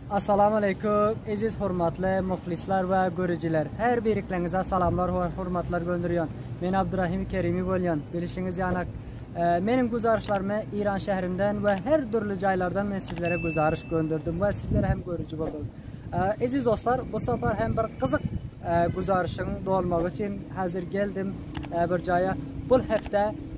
Assalamu aleýkum, eziz hormatly muhlisler we görüjiler. Her birikleňize salamlar we hormatlar gönderýän. Men Abdurrahim Kerimi bolýan. Bilişiňiz ýanak, e, meniň güzarşlarymy Iran şäherinden we her dürli jaýlardan men sizlere güzarş gönderdim we sizler hem görüji bolduňyz. E, eziz dostlar, bu sapar hem bir gyzyk e, güzarşyň dolmagy üçin hazir geldim e, bir jaýa. Bu hepde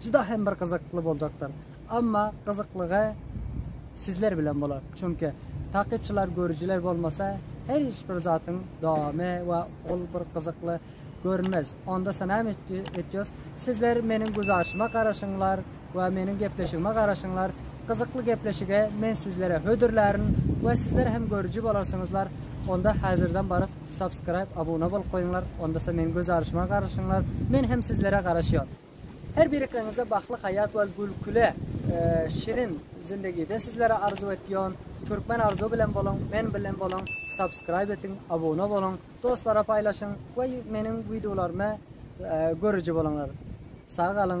Juda hem bir gyzykly boljakdyr. Amma gyzyklygy sizler bilen bolar. Çünki takypçylar, görüjiler bolmasa her hiç bir zatyň dowamy we ol bir gyzykly görünmez. Onda sanam etýäs. Sizler meniň güzaryşyma garaşyňlar we meniň gepleşigime garaşyňlar. Gyzykly gepleşige men sizlere hödürlärin we sizler hem görüji bolarsyňyzlar. Onda häzirden baryp subscribe, abuna bolup goýuňlar. Onda meniň gözaryşyma garaşyňlar. Men hem sizlere garaşýan. Her birikligiňize bagtly haýat we gülküli şirin zindegide sizlere arzuw etýon. Türkmen arzuw bilen boluň, men bilen boluň, subscribe etiň, abuna boluň, dostlara paýlaşyň we meniň wideolarymy görüji boluňlar. Sag galyň.